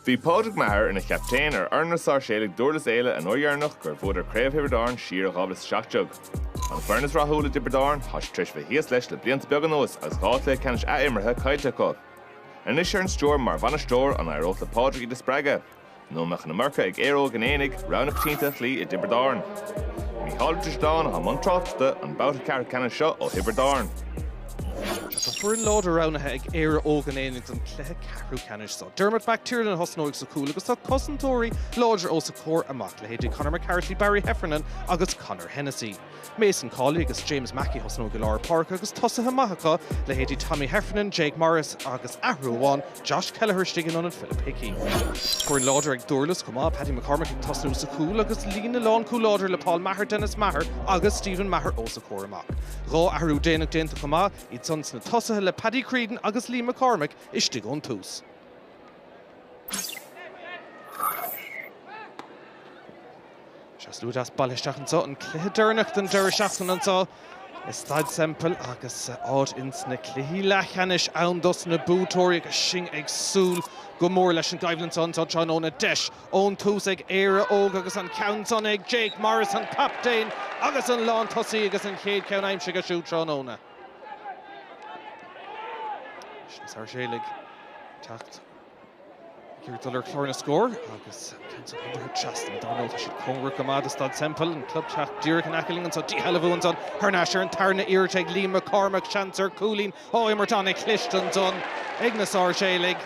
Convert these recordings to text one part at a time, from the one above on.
Bhí Pádraig Maher ina chaptaen ar fhoireann na Sáirséalaigh Dúrlas Éile an uair dheireanach gur bhuadar Craobh Thiobraid Árann siar i 2017. An foireann is rathúla i dTiobraid Árann, tá siad tar éis bheith thíos leis le blianta beaga anuas agus dhá chluiche ceannais athimeartha caillte acu. Anois ar an stiúir mar bhainisteoir, an éireodh le Pádraig iad a spreagadh? Nó an mbeadh an iomarca ag Éire Óg an Aonaigh, rogha na coitiantachta i dTiobraid Árann. Mícheál Ó Drisleáin atá i mbun tráchtaireachta an babhta ceathrú ceannais seo ó Thiobraid Árann. Tá foireann láidir roghnaithe ag Éire Óg an Aonaigh don chluiche ceathrú ceannais seo. Dermot McTiernan a thosnóidh sa chúl agus tá cosantóirí láidre os a chomhair amach, leithéidí Conor McCarthy, Barry Heffernan agus Conor Hennessy. Mason Cawley agus James Mackey a thosnóidh i lár páirce agus tosaithe maithe acu, leithéidí Tommy Heffernan, Jake Morris agus, athrú amháin, Josh Kelleher istigh in ionad Philip Hickey. Foireann láidir ag Dúrlas chomh maith, Paddy McCormack ag tosnú sa chúl agus líne lánchúil láidir le Paul Maher, Denis Maher agus Stephen Maher os a chomhair amach. Dhá athrú déanach déanta chomh maith, iad san sna tosaithe le Paddy Creedon agus Liam McCormack istigh ón tús. Sea, slua deas bailithe isteach anseo, an cluiche deireanach den deireadh seachtaine anseo i Staid Semple agus áit ins na cluichí leathcheannais ann dos na buaiteoirí agus sinn ag súil go mór leis an gcoimhlint seo anseo tráthnóna. Deis ón tús ag Éire Óg agus an ceann san ag Jake Morris, an captaen agus an lántosaí agus an chéad cheann aimsithe aige siúd tráthnóna. Sáirséalaigh ag teacht. Ag iarraidh dul ar chlár na scór agus ceann san thar an trasnán, dar ndóigh tá siad cóngarach go maith do Staid Semple, an club teach díreach in aice linn anseo. Díshealbhú ansan thar n-ais ar an tarna iarracht ag Liam McCormack, seans ar cúilín ó imirt ana-chliste ansan ag na Sáirséalaigh.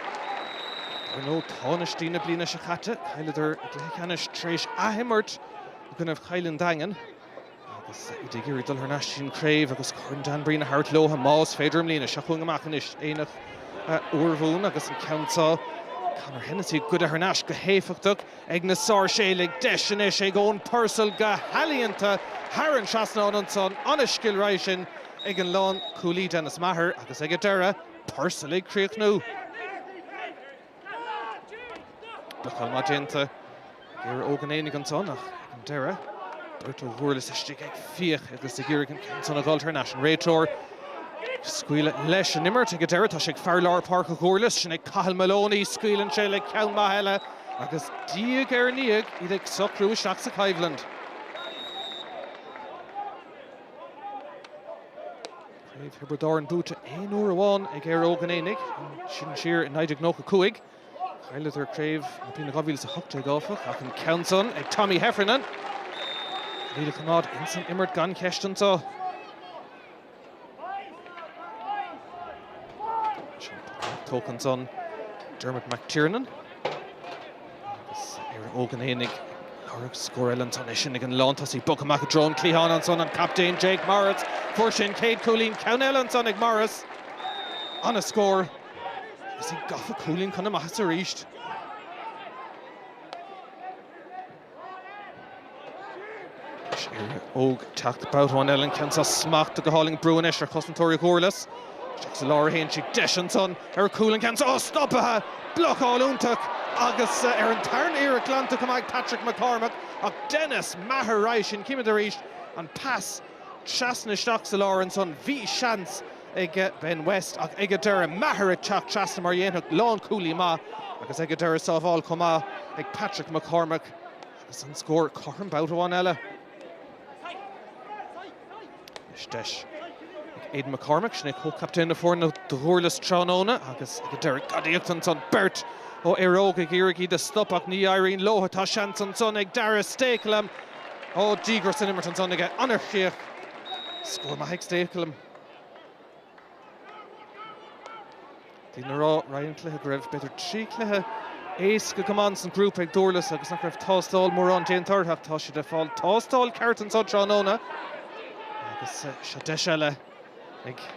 Dar ndóigh, tánaistí na bliana seo caite, cailleadar i gcluiche ceannais tar éis athimirt i gcoinnibh Chill an Daingin. Agus iad ag iarraidh dul thar n-ais, an craobh agus Corn Dan Breen a thabhairt leo, más féidir, i mbliana. Seo chugainn amach anois Aonach Urmhumhan agus an ceann seo, Conor Hennessy, goidte thar n-ais go héifeachtach ag na Sáirséalaigh. Deis anois ag Eoin Purcell go healaíonta thar an trasnán ansan. Ana-scil roimhe sin ag an lán-chúlaí Denis Maher agus ag an deireadh, Purcell ag críochnú. Tackle maith déanta ag Éire Óg an Aonaigh ansan ach ag an deireadh beirt ó Dhúrlas istigh ag fiach agus ag iarraidh an ceann san a dh'fháil thar n-ais an réiteoir scaoileadh leis an imirt ag an deireadh tá sé ag fear lár páirce ó Dhúrlas sin ag Cathal Moloney scaoileann sé le ceann maith eile agus diaidh ar ndiaidh iad ag socrú isteach sa choimhlint. Craobh Thiobraid Árann buaite aon uair amháin ag Éire Óg an Aonaigh, sin siar i 1995. Chailleadar craobh na bliana 2018, áfach, ach an ceann san ag Tommy Heffernan. Níl, ag coimeád ins an imirt gan cheist anso. Sin puc leath-tógtha ansan. Dermot McTiernan. Agus Éire Óg an Aonaigh ag lorg scór eile ansan, é sin ag an lán tosaigh, bogtha amach i dtreo an cliatháin ansan an captaen Jake Morris. Fuair sé an chéad cúilín ceann eile ansan ag Morris. An-scór agus iad gafa cúilín chun na maitheasa arís. Is Éire Óg ag teacht babhta amháin eile an ceann seo smachtaithe go hálainn ag brú anois ar chosantóirí Dhúrlas. Isteach sa lár a théann sí. Deis ansan ar chúl an ceann seo. Tá stopaithe! Blocáil iontach agus ar an tarna hiarracht glanta go maith ag Patrick McCormack ach Denis Maher roimhe sin. Címid arís an pas trasna isteach sa lár ansan. Bhí seans ag Ben West ach ag an deireadh Maher ag teacht trasna mar a dhéanfadh lán-chúlaí maith agus ag an deireadh sábháil chomh maith ag Patrick McCormack. Is an scór cothrom babhta amháin eile. Anois deis ag Aidan McCormack, sin é comhchaptaen na foirne do Dhúrlas tráthnóna agus ag an deireadh gadaíocht ansan. Beirt ó Éire Óg ag iarraidh iad a stop ach ní éiríonn leo. Tá seans ansan ag Dara Stakelum. Ó, díograis san imirt ansan aige. An-chríoch. Scór maith ag Stakelum. D'fhéadfainn a rá roimh an gcluiche go raibh, b'fhéidir, trí chluiche éasca go maith sa ngrúpa ag Dúrlas agus nach raibh tástáil mhór déanta orthu ach tá siad ag fáil tástáil ceart anseo tráthnóna agus seo deis eile ag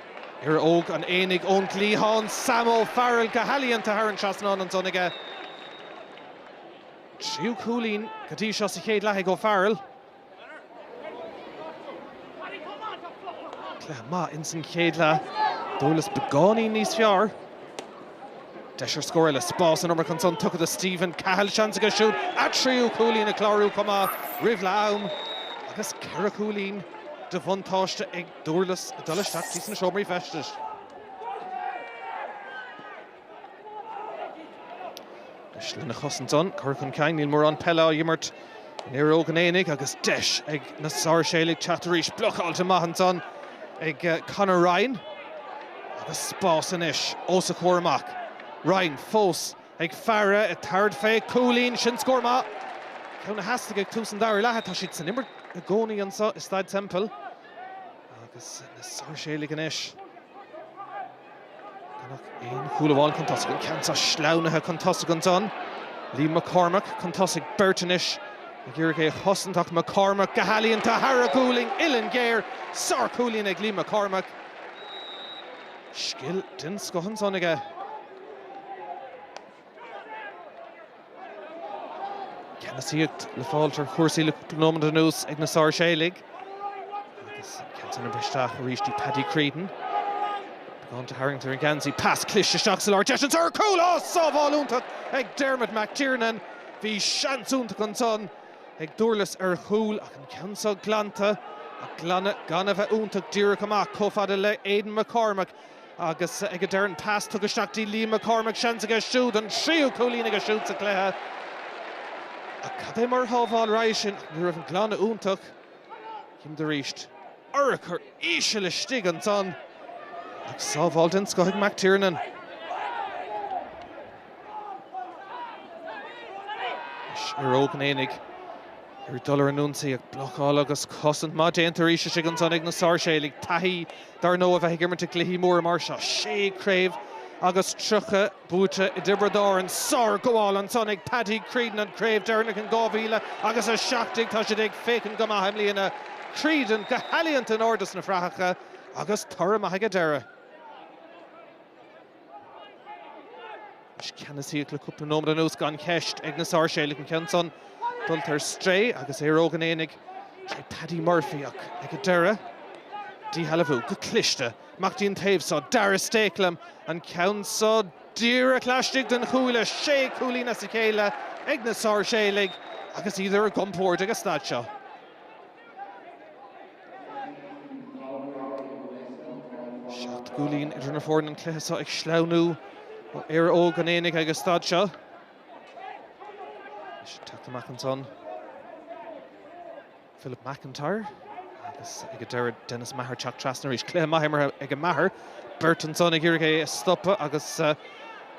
Éire Óg an Aonaigh ón gcliathán, Sam Ó Fearghail go healaíonta thar an trasnán ansan aige. Tríú cúilín go dtí seo sa chéad leath ag Ó Fearghail. Cluiche maith ins an chéad leath. Dúrlas beagáinín níos fearr. Deis ar scór eile, spás an iomarca ansan tugtha do Stephen Cahill. Seans aige siúd a thríú cúilín a chlárú chomh maith roimh leath-am agus ceithre chúilín de bhuntáiste ag Dúrlas ag dul isteach thíos sna seomraí feistis. Anois lena chos ansan, cur chun cinn, níl mórán peile á imirt in Éire Óg an Aonaigh agus deis ag na Sáirséalaigh teacht arís. Blocáilte maith ansan ag Conor Ryan agus spás anois os a chomhair amach. Ryan fós ag faire, ag tabhairt fé, cúilín, sin scór maith! Ceann a theastaigh ag tús an dara leatha. Tá siad san imirt i gcónaí anso i Staid Semple agus na Sáirséalaigh anois. Aon chúl amháin chun tosaigh, an ceann seo sleamhnaithe chun tosaigh ansan. Liam McCormack chun tosaigh, beirt anois ag iarraidh é a chosaint ach McCormack go healaíonta thar a ghualainn uillinn ghéar. Sárchúilín ag Liam McCormack. Scil den scoth ansan aige. Ceannasaíocht le fáil ar chúrsaí le cúpla nóiméad anuas ag na Sáirséalaigh agus an ceann san ag briseadh isteach arís dtí Paddy Creedon. Beagán de tharraingt ar an ngeansaí, pas cliste isteach sa lár deis ansan ar chúl, ó sábháil iontach ag Dermot McTiernan. Bhí seans iontach ansan ag Durlas ar chúl ach an ceann seo glanta ach gan a bheith iontach díreach amach chomh fada le Aidan McCormack. Agus ag an deireadh an pas tugtha isteach dtí Liam Mac Cormaic, seans aige siúd an tríú cúilín aige siúd sa chluiche. Ach cad é mar shábháil ab ea é sin? Ní raibh an glanadh iontach. Chímid arís, urchar íseal istigh ansan agus sábháil den scoth ag Mac Tiernan. Anois Éire Óg an Aonaigh ag iarraidh dul ar an ionsaí ach blocáil agus cosaint maith déanta arís istigh ansan ag na Sáirséalaigh. Taithí Dar ndóigh, bheith ag imirt i gcluichí móra mar seo, sé craobh agus tríocha buaite i dTiobraid Árann, sár-ghabháil ansan ag Paddy Creedon an chraobh deireanach in 2017, tá siad ag féachaint go maith i mbliana, Creedon go healaíonta in airde sna fraitheacha agus toradh maith ag an deireadh. Is ceannasaíocht le cúpla nóiméad anuas gan cheist ag na Sáirséalaigh an ceann san dul ar strae agus Éire Óg an Aonaigh tré Paddy Murphy ach ag an deireadh díshealbhú go cliste amach dtí an taobh so. Dara Stakelum an ceann so díreach laistigh den chuaille. Sé cúilín as a chéile ag na Sáirséalaigh agus iad ar a gcompórd ag an staid seo. Seacht gcúilín idir na fóirne an cluiche seo ag sleamhnú ó Éire Óg an Aonaigh ag an staid seo. Is teacht amach ansan Philip McIntyre agus ag an deireadh Dennis Maher teacht trasna arís cluiche maith á imirt ag Maher beirt ansan ag iarraidh é a stopadh agus uh,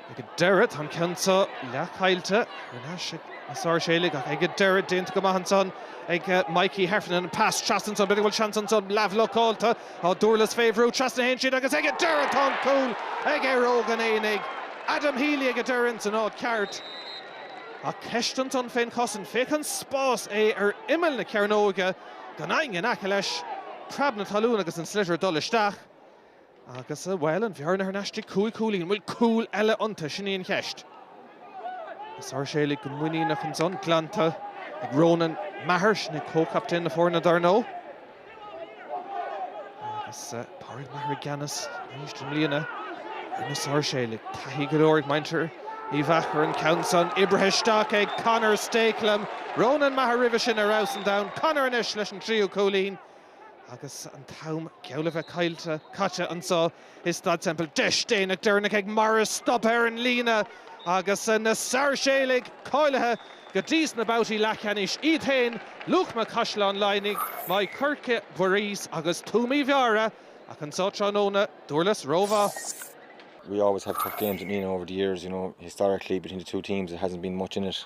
Ag deireadh, tá an ceann seo leathchaillte, thar n-ais ag na Sáirséalaigh, ach ag deireadh, déanta go maith ansan ag Mikey Heffernan. An pas, trasna ansan, b'fhéidir go bhfuil seans ansan, leathbhlocáilte, tá Durlas fé bhrú, trasna a théann siad agus ag deireadh tá an cúl ag Éire Óg an Aonaigh. Adam Healy ag deireadh ins an áit ceart. Ach ceist ansan fén chosaint. Féach an spás, é ar imeall na cearnóige, gan éinne in aice leis, preab na talún agus an sliotar ag dul isteach. Agus, bhuel, an bhearna thar n-ais go dtí cúig chúilín, an bhfuil cúl eile iontu? Sin í an cheist. Na Sáirséalaigh go muiníneach ansan, glanta ag Ronan Maher, sin é comhchaptaen na foirne, dar ndóigh. Agus Pádraig Maher i gceannas arís i mbliana, ar na Sáirséalaigh, taithí go leor ag muintir Uí Mheachair an ceann san oibrithe isteach ag Conor Stakelum. Ronan Maher roimhe sin ar fheabhas an domhain, Conor anois leis an tríú cúilín. Agus an t-am geall le bheith caillte, caite anseo i Staid Semple, deis déanach deireanach ag Morris stop ar an líne agus na Sáirséalaigh cáilithe go dtí sna babhtaí leathcheannais iad féin, Luachma, Caisleán Laighnigh, Maigh Coirce, Buiríos agus Tuaim Uí Mheára ach anseo tráthnóna, Dúrlas rómhaith. we always have tough games with Nenagh over the years, you know, historically between the two teams there hasn't been much in it.